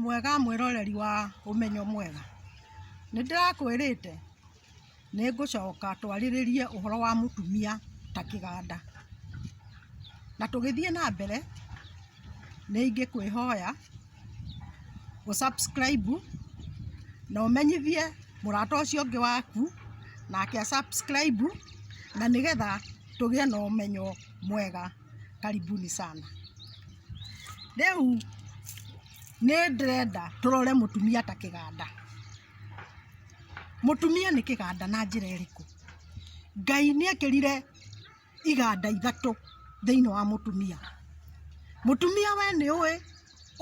mwega mwĩroreri wa ũmenyo mwega nĩ ndĩrakwĩrĩte nĩ ngũcoka twarĩrĩrie ũhoro wa mũtumia ta kĩganda na tũgĩthiĩ na mbere nĩ ingĩkwĩhoya gũ subscribe na ũmenyithie mũrata ũcio ũngĩ waku nake a subscribe na nĩgetha tũgĩe na ũmenyo mwega. Karibuni sana. Rĩu nĩ ndĩrenda tũrore mũtumia ta kĩganda. Mũtumia nĩ kĩganda na njĩra ĩrĩkũ? Ngai nĩ ekĩrire iganda ithatũ thĩinĩ wa mũtumia. Mũtumia we nĩ ũĩ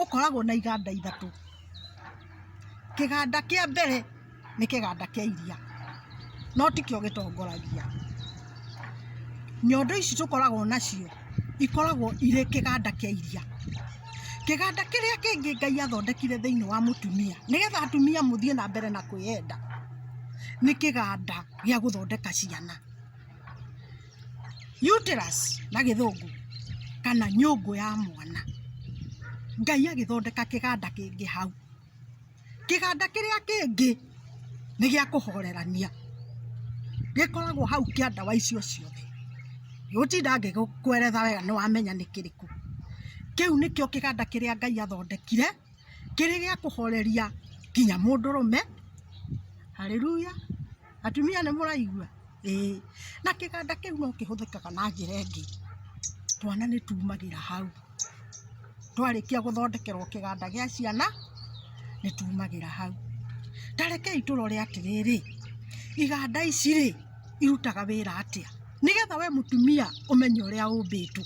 ũkoragwo na iganda ithatũ. Kĩganda kĩa mbere nĩ kĩganda kĩa iria, no tikĩo gĩtongoragia. Nyondo ici tũkoragwo nacio ikoragwo irĩ kĩganda kĩa iria. Kĩganda kĩrĩa kĩngĩ Ngai athondekire thĩinĩ wa mũtumia nĩ getha atumia mũthiĩ na mbere na kwĩyenda, nĩ kĩganda gĩa gũthondeka ciana. Uterus na gĩthũngũ kana nyũngũ ya mwana. Ngai agĩthondeka kĩganda kĩngĩ hau. Kĩganda kĩrĩa kĩngĩ nĩ gĩa kũhorerania. Gĩkoragwo hau kĩa ndawa icio ciothe. Ndigũtinda ngĩkũeretha wega nĩ wamenya nĩ kĩrĩkũ. Kĩu nĩkĩo kĩganda kĩrĩa Ngai athondekire kĩrĩ gĩa kũhoreria nginya mũndũrũme. Hallelujah. Atumia nĩ mũraigua? Ĩĩ. Na kĩganda kĩu no kĩhũthĩkaga na njĩra ĩngĩ. Twana nĩ tumagĩra hau. Twarĩkia gũthondekerwo kĩganda gĩa ciana, nĩ tumagĩra hau. Ta rekei tũrore atĩrĩrĩ, iganda ici rĩ, irutaga wĩra atĩa? Nĩgetha we mũtumia ũmenye ũrĩa ũmbĩtwo,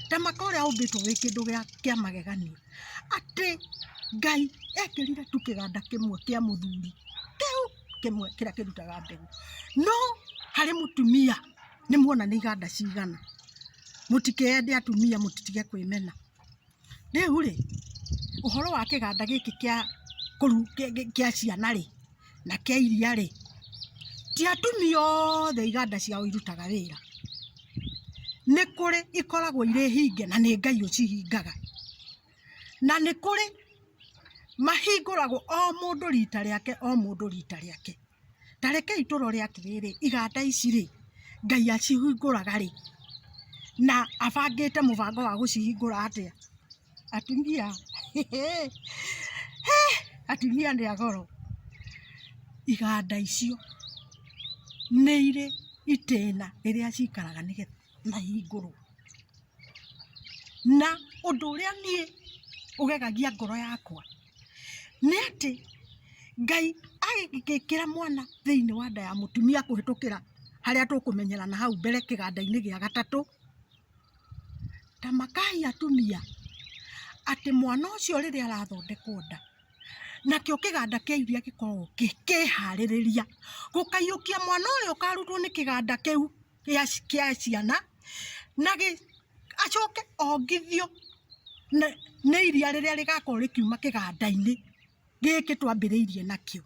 ta maka ũrĩa ũmbĩtwo wĩ kĩndũ gĩa kĩa magegania, atĩ Ngai ekĩrire tu kĩganda kĩmwe kĩa mũthuri, kĩu. kĩmwe kĩrĩa kĩrutaga mbegũ. No harĩ mũtumia nĩ muona nĩ iganda cigana. Mũtikende atumia mũtige kwĩmena. Rĩu rĩ, ũhoro wa kĩganda gĩkĩ kĩa kũru kĩa ciana rĩ, na kĩa iria rĩ, ti atumia othe iganda ciao irutaga wĩra. Nĩ kũrĩ ikoragwo irĩ hinge na nĩ Ngai ũcihingaga. na nĩ kũrĩ mahingũragwo o mũndũ rita rĩake o mũndũ rita rĩake ta rekei tũrore atĩrĩrĩ iganda ici rĩ ngai acihingũraga rĩ na abangĩte mũbango wa gũcihingũra atĩa atumia he atumia nĩ agoro iganda icio nĩ irĩ itĩna rĩrĩa cikaraga nĩgetha na hingũrwo. Na ũndũ ũrĩa niĩ ũgegagia ngoro yakwa nĩ atĩ Ngai agĩgĩkĩra mwana thĩinĩ wa nda ya mũtumia kũhĩtũkĩra harĩa tũkũmenyerana hau mbere kĩganda-inĩ gĩa gatatũ, ta makaai atumia atĩ mwana ũcio rĩrĩa arathondekwo nda, nakĩo kĩganda kĩa iria gĩkoragwo kĩkĩharĩrĩria gũkaiyũkia mwana ũyũ ũkarutwo nĩ kĩganda kĩu. kĩa ciana na acoke ongithio nĩ iria rĩrĩa rĩgakorwo rĩkiuma kĩganda-inĩ gĩkĩ twambĩrĩirie nakĩo,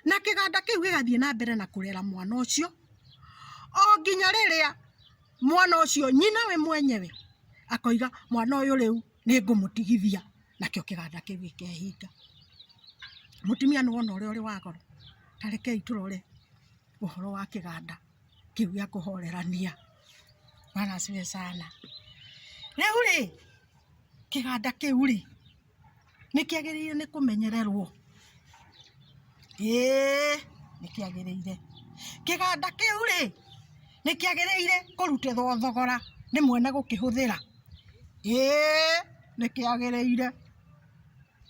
na kĩganda kĩu gĩgathiĩ na mbere na kũrera mwana ũcio o nginya rĩrĩa mwana ũcio nyina we mwenyewe akoiga mwana ũyũ rĩu nĩ ngũmũtigithia nakĩo kĩganda kĩu gĩkehinga. Mũtumia nĩ wona ũrĩa ũrĩ wa goro? Ta rekei tũrore ũhoro wa kĩganda. kĩu gĩa kũhorerania maracwe sana rĩu rĩ kĩganda kĩu rĩ nĩ kĩagĩrĩire nĩ kũmenyererwo ĩĩ nĩ kĩagĩrĩire kĩganda kĩu rĩ nĩ kĩagĩrĩire kũrutĩrwo thogora nĩ mwene gũkĩhũthĩra ĩĩ nĩ kĩagĩrĩire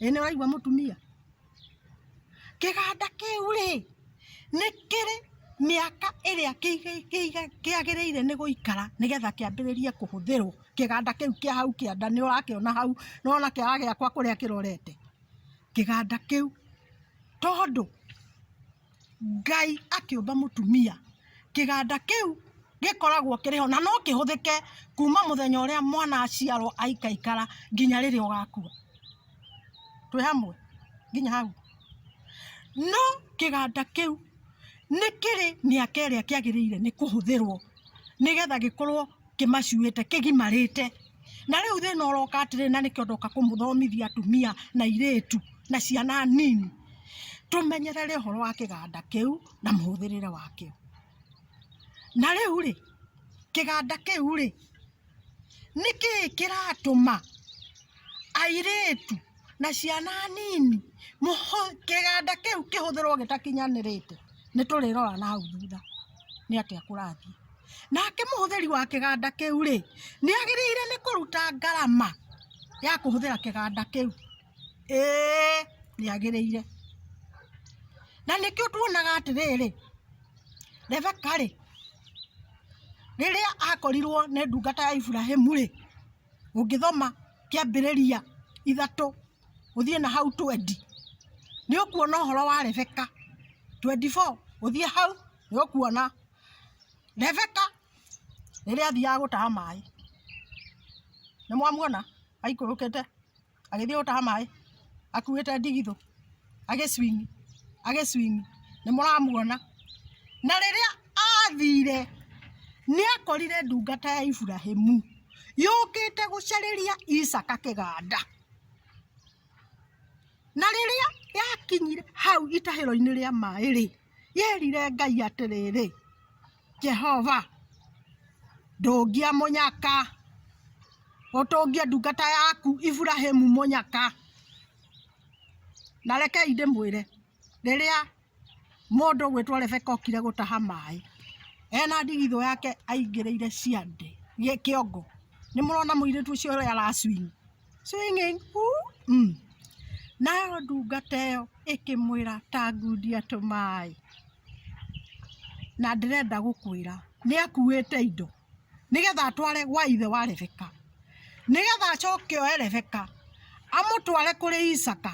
ĩĩ nĩ waigua mũtumia kĩganda kĩu rĩ nĩ kĩrĩ mĩaka ĩrĩa kĩagĩrĩire nĩ gũikara nĩgetha kĩambĩrĩrie kũhũthĩrwo kĩganda kĩu kĩa hau kĩanda nĩ ũrakĩona hau nĩ wona kĩara gĩakwa kũrĩa kĩrorete kĩganda kĩu tondũ Ngai akĩũmba mũtumia, kĩganda kĩu gĩkoragwo kĩrĩ ho na no kĩhũthĩke kuma mũthenya ũrĩa mwana aciarwo aikaikara nginya rĩrĩa ũgakua. Twĩ hamwe nginya hau? No kĩganda kĩu nĩ kĩrĩ mĩaka ĩrĩa kĩagĩrĩire nĩ kũhũthĩrwo nĩgetha gĩkorwo... kĩmacuĩte kĩgimarĩte na rĩu thĩna ũroka atĩrĩ na nĩkĩo ndoka kũmũthomithia atumia na irĩtu na ciana nini tũmenyerere ũhoro wa kĩganda kĩu na mũhũthĩrĩre wakĩo na rĩu rĩ kĩganda kĩu rĩ nĩ kĩĩ kĩratũma airĩtu na ciana nini mũhũ- kĩganda kĩu kĩhũthĩrwo gĩtakinyanĩrĩte nĩ tũrĩrora na hau thutha nĩ atĩa kũrathiĩ nake mũhũthĩri wa kĩganda kĩu-rĩ, nĩagĩrĩire nĩ kũruta ngarama ya kũhũthĩra kĩganda kĩu? Ĩĩ, nĩagĩrĩire. Na nĩkĩo tuonaga atĩrĩrĩ, Rebeka-rĩ, rĩrĩa akorirwo nĩ ndungata ya Iburahĩmu-rĩ, ũngĩthoma kĩambĩrĩria ithatũ ũthiĩ na hau twendi, nĩũkuona ũhoro wa Rebeka, twendi four ũthiĩ hau nĩ ũkuona Rebeka rĩrĩa athiaga gũtaha maĩ, nĩ mwamuona aikũrũkĩte agĩthiĩ gũtaha maĩ akuĩte ndigithũ agĩ swing agĩ swing nĩ mũramuona? Na rĩrĩa athire nĩ akorire ndungata ya Iburahimu yũkĩte gũcarĩria Isaka kĩganda, na rĩrĩa yakinyire hau itahĩro-inĩ rĩa maĩ rĩ... yerire Ngai atĩrĩrĩ, Jehova, ndũngia mũnyaka, ũtũngie ndungata yaku Iburahĩmu mũnyaka. Na rekei ndĩmwĩre, rĩrĩa mũndũ ũgwĩtwo Rebeka okire gũtaha maĩ, ena ndigithũ yake aingĩrĩire ciande, kĩongo, nĩmũrona mũirĩtu ũcio ũrĩa ara swing? swinging uumm Nayo ndungata ĩyo ĩkĩmwĩra tangundia tũmaĩ na ndĩrenda gũkwĩra nĩ akuĩte indo nĩgetha atware gwa ithe wa Rebeka nĩgetha acoke oe Rebeka amũtware kũrĩ Isaka